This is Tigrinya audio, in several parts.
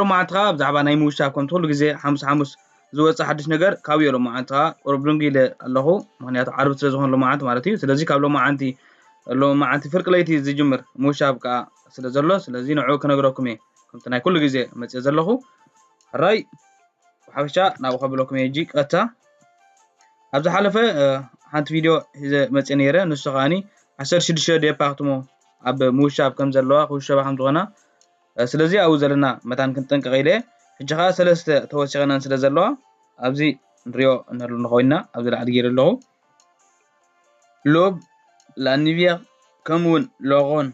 ሎማዓንቲ ከኣ ብዛዕባ ናይ ምውሻብ ከምቲ ኩሉ ግዜ ሓሙስ ሓሙስ ዝወጽእ ሓድሽ ነገር ካብዮ ሎማዓንቲ ከኣ ቁሩብ ድንጉይ ኢለ ኣለኹ ምክንያቱ ዓርቢ ስለ ዝኾነ ሎማዓንቲ ማለት እዩ ስለዚ ካብ ሎማዓንቲ ሎማዓንቲ ፍርቂ ለይቲ ዝጅምር ምውሻብ ከኣ ስለ ዘሎ ስለዚ ንዕኡ ክነግረኩም እየ ከምቲ ናይ ኩሉ ግዜ መጽየ ዘለኹ ሕራይ ብሓፈሻ ናብኡ ከብለኩም እየ እጂ ቀጥታ ኣብ ዝሓለፈ ሓንቲ ቪድዮ ሒዘ መፅእ ነይረ ንሱ ከዓኒ ዓሰርተ ሽዱሽተ ዴፓርትሞ ኣብ ምውሻብ ከም ዘለዋ ክውሸባ ከም ዝኾና ስለዚ ኣብኡ ዘለና መታን ክንጥንቀቕ ኢለ ሕጂ ከኣ ሰለስተ ተወሲኸናን ስለ ዘለዋ ኣብዚ ንሪኦ እንህሉ ንኸውና ኣብዚ ላዕሊ ገይረ ኣለኹ ሎብ ላኒቪያ ከምኡ እውን ሎኾን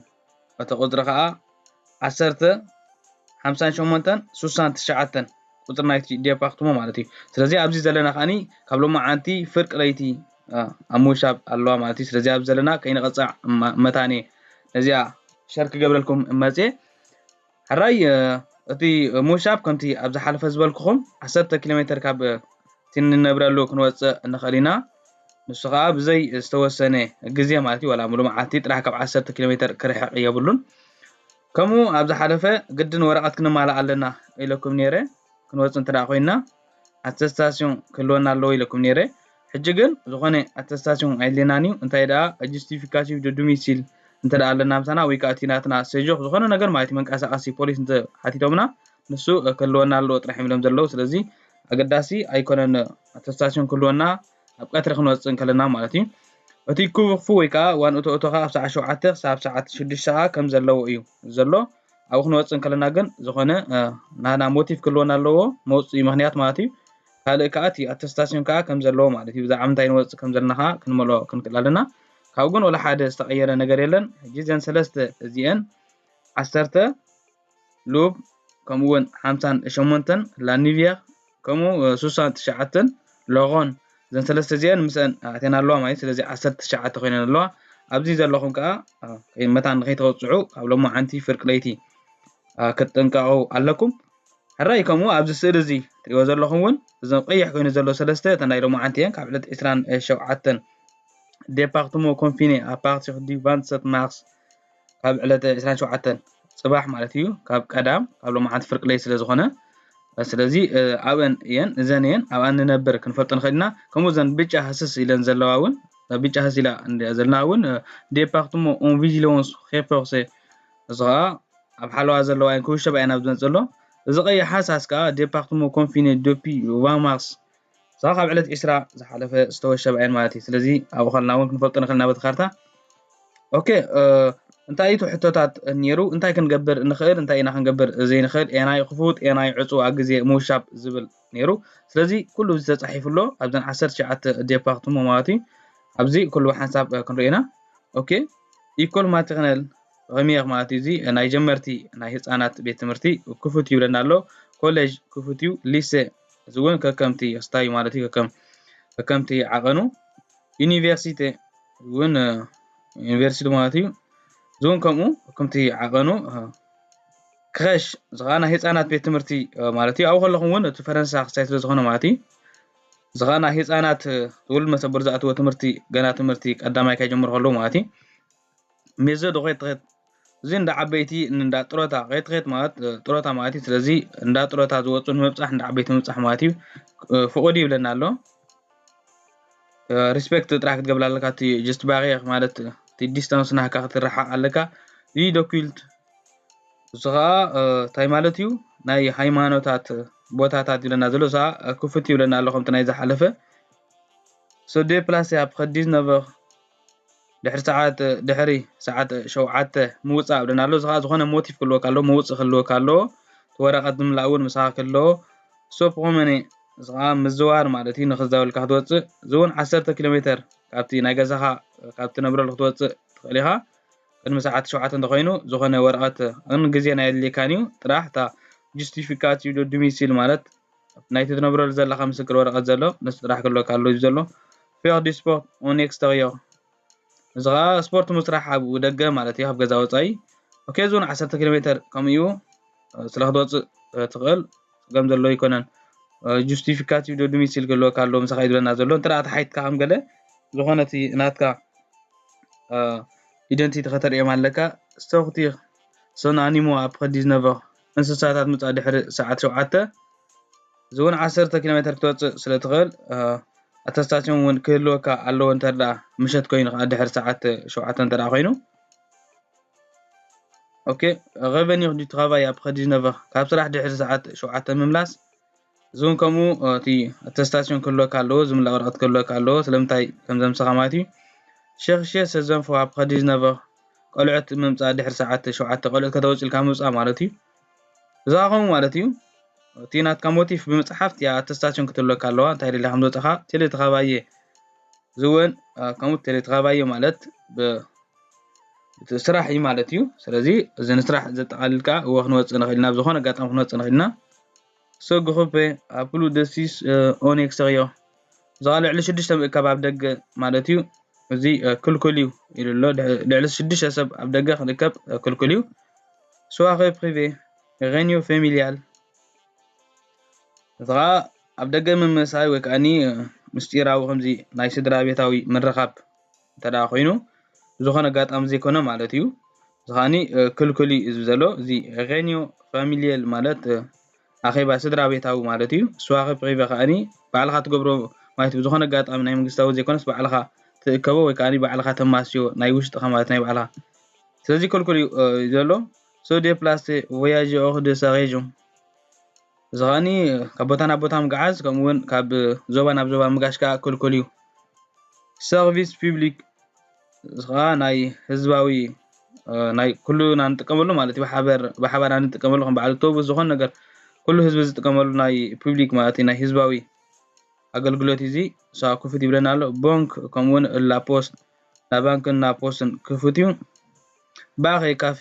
እቲ ቁፅሪ ከኣ ዓሰርተ ሓምሳን ሸሞንተን ሱሳን ትሽዓተን ቁፅሪ ናይቲ ዴፓክትሞ ማለት እዩ ስለዚ ኣብዚ ዘለና ከኣኒ ካብ ሎማዓንቲ ፍርቂ ለይቲ ኣብ ምውሻብ ኣለዋ ማለት እዩ ስለዚ ኣብ ዘለና ከይንቐፅዕ መታኔ ነዚኣ ሸር ክገብረልኩም መፅየ ሕራይ እቲ ምውሻብ ከምቲ ኣብ ዝሓለፈ ዝበልኩኹም ዓሰርተ ኪሎ ሜትር ካብ እቲ ንነብረሉ ክንወፅእ ንኽእል ኢና ንሱ ከዓ ብዘይ ዝተወሰነ ግዜ ማለት እዩ ዋላ ሙሉ መዓልቲ ጥራሕ ካብ ዓሰርተ ኪሎ ሜትር ክርሕቕ የብሉን ከምኡ ኣብ ዝሓለፈ ግድን ወረቐት ክንማልእ ኣለና ኢለኩም ነይረ ክንወፅ እንተ ኮይና ኣተስታስዮን ክህልወና ኣለዎ ኢለኩም ነይረ። ሕጂ ግን ዝኾነ ኣተስታስዮን ኣየድልየናን እዩ። እንታይ ደኣ ጁስቲፊካቲቭ ዶ ዱሚሲል እንተ ደኣ ኣለና ምሳና ወይ ከኣ እቲ ናትና ሰጆክ ዝኾነ ነገር ማለት እዩ መንቀሳቐሲ ፖሊስ እንተ ሓቲቶምና ንሱ ክህልወና ኣለዎ ጥራሕ እዮም ኢሎም ዘለዉ። ስለዚ ኣገዳሲ ኣይኮነን ኣተስታስዮን ክህልወና ኣብ ቀትሪ ክንወጽእ እንከለና ማለት እዩ። እቲ ክፉ ወይ ከኣ ዋን እቶ እቶ ከኣ ኣብ ሰዓት ሸውዓተ ክሳብ ሰዓት ሽዱሽተ ከኣ ከም ዘለዎ እዩ ዘሎ። ኣብኡ ክንወፅእ እንከለና ግን ዝኾነ ናና ሞቲቭ ክህልወና ኣለዎ መውፅኢ ምክንያት ማለት እዩ ካልእ ከዓ እቲ ኣተስታሲዮን ከዓ ከም ዘለዎ ማለት እዩ ብዛዕባ ምንታይ ንወፅእ ከም ዘለና ከዓ ክንመልኦ ክንክእል ኣለና ካብኡ ግን ወላ ሓደ ዝተቐየረ ነገር የለን ሕጂ እዘን ሰለስተ እዚአን ዓሰርተ ሉብ ከምኡውን ሓምሳን ሸሞንተን ላኒቪያ ከምኡ ሱሳን ትሽዓተን ሎጎን እዘን ሰለስተ እዚኤን ምስአን ኣእቴን ኣለዋ ማለት ስለዚ ዓሰርተ ትሽዓተ ኮይነን ኣለዋ ኣብዚ ዘለኹም ከዓ መታን ንከይተወፅዑ ካብ ሎማዓንቲ ፍርቂ ለይቲ ክትጥንቀቑ ኣለኩም ሕራይ ከምኡ ኣብዚ ስእሊ እዚ ትሪእዎ ዘለኹም እውን እዞም ቀይሕ ኮይኑ ዘሎ ሰለስተ እተን ናይ ሎማዓንቲ እየን ካብ ዕለት ዕስራን ሸውዓተን ዴፓርትሞ ኮንፊኔ ኣፓርቲ ዲቫንሰት ማርስ ካብ ዕለት 27 ፅባሕ ማለት እዩ ካብ ቀዳም ካብ ሎማዓንቲ ፍርቂ ለይ ስለ ዝኾነ ስለዚ ኣብን እየን እዘን እየን ኣብ ኣንነብር ክንፈልጦ ንኽእል ኢና ከምኡ ዘን ብጫ ህስስ ኢለን ዘለዋ እውን ብጫ ህስ ኢላ እንሪኣ ዘለና እውን ዴፓርትሞ ኦን ቪጂሎንስ ሄፐርሴ እዚ ከዓ ኣብ ሓለዋ ዘለዋ እየን ክውሸባ እየን ኣብ ዝመፅእ ዘሎ እዚ ቀይሕ ሃሳስ ከዓ ዴፓርትሞ ኮንፊኔ ዶፒ ቫማርስ እዛ ካብ ዕለት ዒስራ ዝሓለፈ ዝተወሸባ እየን ማለት እዩ ስለዚ ኣብኡ ከለና እውን ክንፈልጦ ንኽእል ናበቲ ካርታ ኦኬ እንታይ እዩ ሕቶታት ነይሩ እንታይ ክንገብር ንኽእል እንታይ ኢና ክንገብር ዘይንኽእል ኤናይ ክፉት ኤናይ ዕፁ ኣብ ግዜ ምውሻብ ዝብል ነይሩ ስለዚ ኩሉ እዚ ተፃሒፉ ኣሎ ኣብዘን ዓሰርተ ሸዓተ ዴፓ ክትሞ ማለት እዩ ኣብዚ ኩሉ ሓንሳብ ክንሪኦ ኢና ኦኬ ኢኮል ማትክነል ሪሜር ማለት እዩ እዚ ናይ ጀመርቲ ናይ ህፃናት ቤት ትምህርቲ ክፉት ይብለና ኣሎ ኮሌጅ ክፉት እዩ ሊሴ እዚ እውን ከከምቲ ስታዩ ማለት እዩ ከከም ከከምቲ ዓቐኑ ዩኒቨርሲቲ እውን ዩኒቨርሲቲ ማለት እዩ እዚ እውን ከምኡ ከምቲ ዓቐኑ ክኸሽ እዚ ከዓ ናይ ህፃናት ቤት ትምህርቲ ማለት እዩ ኣብኡ ከለኹም እውን እቲ ፈረንሳ ክሳይ ስለ ዝኾነ ማለት እዩ እዚ ከዓ ናይ ህፃናት ዝውልድ መሰበር ዝኣተዎ ትምህርቲ ገና ትምህርቲ ቀዳማይ ከይጀምሩ ከለዉ ማለት እዩ ሜዞ ዶ ኼት ኼት እዚ እንዳ ዓበይቲ እንዳ ጥሮታ ኼት ኼት ማለት ጥሮታ ማለት እዩ ስለዚ እንዳ ጥሮታ ዝወፁ ንምብፃሕ እንዳ ዓበይቲ ምብፃሕ ማለት እዩ ፍቑድ ይብለና ኣሎ ሪስፔክት ጥራሕ ክትገብላ ኣለካ እቲ ጀስት ባሪየር ማለት እቲ ዲስታንስ ናህካ ክትረሓቕ ኣለካ እዚ ዶኪልት እዚ ከዓ እንታይ ማለት እዩ ናይ ሃይማኖታት ቦታታት ይብለና ዘሎ እዛ ክፉት ይብለና ኣሎ ከምቲ ናይ ዝሓለፈ ሰዴ ፕላስ ኣብ ከዲዝ ነበር ድሕሪ ሰዓት ሸውዓተ ምውፃእ ብለና ኣሎ እዚ ከዓ ዝኾነ ሞቲቭ ክህልወካ ኣለዎ መውፅእ ክህልወካ ኣለዎ እቲ ወረቐት ዝምላእ እውን ምሳኻ ክህልዎ ሶፕ ኮመኔ እዚ ከዓ ምዝዋር ማለት እዩ ንክዛወልካ ክትወፅእ እዚ እውን ዓሰርተ ኪሎ ሜተር ካብቲ ናይ ገዛኻ ካብቲ ነብረሉ ክትወፅእ ትኽእል ኢኻ ቅድሚ ሰዓት ሸውዓተ እንተኮይኑ ዝኾነ ወረቐት ን ግዜ ናይ ኣድልየካን እዩ ጥራሕ እታ ጁስቲፊካቲቭ ዶሚሲል ማለት ናይቲ ትነብረሉ ዘለኻ ምስክር ወረቐት ዘሎ ንሱ ጥራሕ ክህልወካ ኣለዎ እዩ ዘሎ ፌር ዲ ስፖርት ኦን ኤክስተርዮር እዚ ከዓ ስፖርት ምስራሕ ኣብ ደገ ማለት እዩ ኣብ ገዛ ወፃኢ ኦኬ ዞን 10 ኪሎ ሜተር ከምኡ እዩ ስለ ክትወፅእ ትኽእል ፀገም ዘሎ ኣይኮነን ጁስቲፊካቲቭ ዶ ዶሚሲል ክህልወካ ኣለዎ ምሳኻ እዩ ዝብለና ዘሎ እንተ ተሓይትካ ከም ገለ ዝኾነ እቲ ናትካ ኢደንቲቲ ከተርእዮም ኣለካ ሶርቲር ሶን ኣኒሞ ኣፕረ ዲዝነቨር እንስሳታት ምጽኣ ድሕሪ ሰዓት ሸውዓተ ዝውን ዓሰርተ ኪሎሜተር ክትወጽእ ስለ ትኽእል ኣተስታሽን እውን ክህልወካ ኣለዎ እንተደኣ ምሸት ኮይኑ ከዓ ድሕሪ ሰዓት ሸውዓተ እንተደኣ ኮይኑ ኦኬ ረቨኒር ዱ ትራቫይ ኣብ ከዲነቨ ካብ ስራሕ ድሕሪ ሰዓት ሸውዓተ ምምላስ እዚ ውን ከምኡ እቲ ኣተስታሲዮን ክህልወካ ኣለዎ፣ ዝምላ ወረቐት ክህልወካ ኣለዎ፣ ስለምንታይ ከም ዘምሰኻ ማለት እዩ። ሸክሸ ሰዘንፎ ኣብ ከዲ ዝነበ ቆልዑት ምምጻእ ድሕሪ ሰዓት ሸውዓተ ቆልዑት ከተወጽ ኢልካ ምውጻእ ማለት እዩ። እዚ ከኣ ከምኡ ማለት እዩ እቲ ናትካ ሞቲፍ ብምጽሓፍ እቲኣ ኣተስታሲዮን ክትህልወካ ኣለዋ፣ እንታይ ደሊኻ ከም ዝወጻኻ ቴሌ ተኸባየ እዚ ውን ከምኡ ቴሌ ተኸባየ ማለት ብ ስራሕ እዩ ማለት እዩ። ስለዚ እዚ ንስራሕ ዘጠቓልል ከኣ እወ ክንወጽእ ንኽእል ኢና፣ ኣብ ዝኾነ ኣጋጣሚ ክንወጽእ ንኽእል ኢና። Ce groupe a plus de six ans en extérieur እዛ ልዕሊ ሽዱሽተ ምእካብ ኣብ ደገ ማለት እዩ እዚ ክልኩል እዩ ኢሉ ኣሎ ልዕሊ ሽዱሽተ ሰብ ኣብ ደገ ክንእከብ ክልኩል እዩ ስዋኸ ፕሪቬ ሬኒዮ ፌሚልያል እዚ ከዓ ኣብ ደገ ምምሳይ ወይ ከዓኒ ምስጢራዊ ከምዚ ናይ ስድራ ቤታዊ ምርኻብ እንተ ደኣ ኮይኑ ብዝኾነ ኣጋጣሚ ዘይኮነ ማለት እዩ። እዚ ከኣኒ ክልኩል እዩ እዚ ዘሎ እዚ ሬንዮ ፋሚልየል ማለት ኣኼባ ስድራ ቤታዊ ማለት እዩ። ስዋኸ ፕሪቨ ከኣኒ ባዕልኻ ትገብሮ ማለት ብዝኾነ ኣጋጣሚ ናይ መንግስታዊ ዘይኮነስ ባዕልኻ ትእከቦ ወይ ከኣኒ ባዕልኻ ተማስዮ ናይ ውሽጥኻ ማለት ናይ ባዕልኻ ስለዚ ክልኩል እዩ ዘሎ። ሶ ዴፕላሰ ቮያጀኦር ደ ሳ ሬጅዮን። እዚ ከኣኒ ካብ ቦታ ናብ ቦታ ምጉዓዝ ከምኡ እውን ካብ ዞባ ናብ ዞባ ምጋሽ ከዓ ክልኩል እዩ። ሰርቪስ ፒብሊክ እዚ ከዓ ናይ ህዝባዊ ናይ ኩሉና ንጥቀመሉ ማለት እዩ ብሓበር ብሓባር ንጥቀመሉ ከም በዓል ኣውቶቡስ ዝኾነ ነገር ኩሉ ህዝቢ ዝጥቀመሉ ናይ ፒብሊክ ማለት እዩ ናይ ህዝባዊ ኣገልግሎት እዩ እዚ እሳ ክፉት ይብለና ኣሎ ቦንክ ከምኡውን ላፖስት ናብ ባንክን ናብ ፖስትን ክፉት እዩ ባኸ ካፌ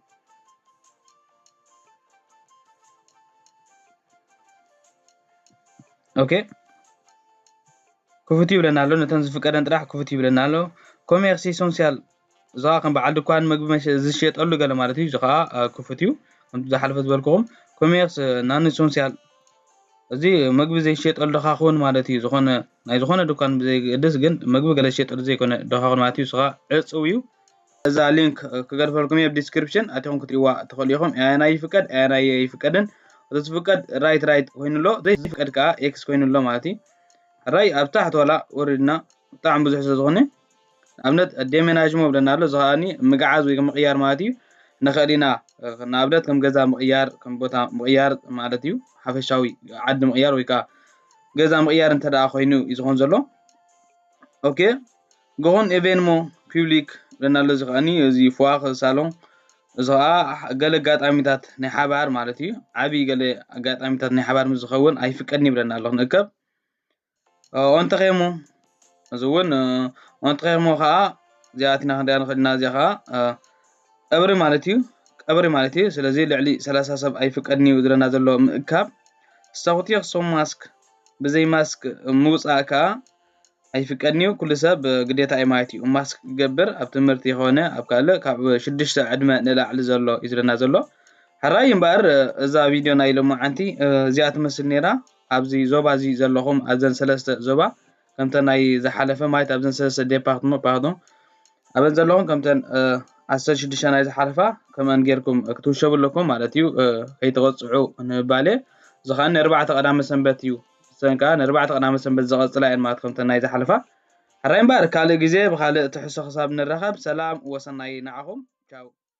ኦኬ ክፉት ይብለና ኣሎ ነተን ዝፍቀደን ጥራሕ ክፉት ይብለና ኣሎ ኮሜርሲ ሶንሲያል እዚ ከዓ ከም በዓል ድኳን መግቢ ዝሽየጠሉ ገለ ማለት እዩ እዚ ከዓ ክፉት እዩ ከምቲ ዝሓለፈ ዝበልክኹም ኮሜርስ ናን ሶንሲያል እዚ መግቢ ዘይሽየጠሉ ድኻ ክውን ማለት እዩ ዝኾነ ናይ ዝኾነ ድኳን ብዘይገድስ ግን መግቢ ገለ ዝሽየጠሉ ዘይኮነ ድኻ ክውን ማለት እዩ እዚ ከዓ ዕፅው እዩ ነዛ ሊንክ ክገድፈልኩም እየ ዲስክሪፕሽን ኣቲኹም ክትሪእዋ ትኽእሉ ኢኹም ኣያናይ ይፍቀድ ኣያናይ ኣይፍቀድን እቲ ዝፍቀድ ራይት ራይት ኮይኑ ኣሎ ዘይፍቀድ ከዓ ኤክስ ኮይኑ ኣሎ ማለት እዩ ራይ ኣብ ታሕቲ ዋላ ወሪድና ብጣዕሚ ብዙሕ ስለ ዝኾነ ንኣብነት ዴሜናጅሞ ብለና ኣሎ እዚ ከዓኒ ምግዓዝ ወይ ምቕያር ማለት እዩ ንኽእል ኢና ንኣብነት ከም ገዛ ምቕያር ከም ቦታ ምቕያር ማለት እዩ ሓፈሻዊ ዓዲ ምቕያር ወይ ከዓ ገዛ ምቕያር እንተ ደኣ ኮይኑ እዩ ዝኾን ዘሎ ኦኬ ገሆን ኤቬንሞ ፒብሊክ ለናለዚ ከኣኒ እዚ ፍዋኽ ሳሎን እዚ ኸኣ ገለ ኣጋጣሚታት ናይ ሓባር ማለት እዩ ዓብዪ ገለ ኣጋጣሚታት ናይ ሓባር ምስ ዝኸውን ኣይፍቀድን ይብለና ኣሎ ክንእከብ ኦንተኼሞ እዚ እውን ኦንተኼሞ ከዓ እዚኣትና ክንሪኣ ንኽእል ኢና እዚኣ ከዓ ቀብሪ ማለት እዩ ቀብሪ ማለት እዩ ስለዚ ልዕሊ ሰላሳ ሰብ ኣይፍቀድን እዩ ዝለና ዘሎ ምእካብ ሰኹቲ ክሶም ማስክ ብዘይ ማስክ ምውፃእ ከዓ ኣይፍቀድንዩ ኩሉ ሰብ ግዴታ እዩ ማለት እዩ ማስክ ክገብር ኣብ ትምህርቲ ኮነ ኣብ ካልእ ካብ ሽዱሽተ ዕድመ ንላዕሊ ዘሎ እዩ ዝለና ዘሎ ሕራይ እምበኣር እዛ ቪድዮ ናይ ሎማዓንቲ እዚኣ ትመስል ነይራ ኣብዚ ዞባ እዚ ዘለኹም ኣዘን ሰለስተ ዞባ ከምተ ናይ ዝሓለፈ ማለት ኣብዘን ሰለስተ ዴፓርትመ ፓርዶ ኣበን ዘለኹም ከምተን ዓሰርተ ሽዱሽተ ናይ ዝሓለፋ ከምኣን ጌርኩም ክትውሸቡ ኣለኩም ማለት እዩ ከይተቐፅዑ ንባሌ እዚ ከዓ ንኣርባዕተ ቀዳመ ሰንበት እዩ ንሰን ከኣ ንኣርባዕተ ቀዳመ ሰንበት ዝቐጽላ እየን ማለት ከምተን ናይ ዝሓለፋ። ሕራይ እምበኣር ካልእ ግዜ ብኻልእ ትሕዝቶ ክሳብ ንራኸብ ሰላም ወሰናይ ንዓኹም። ቻው።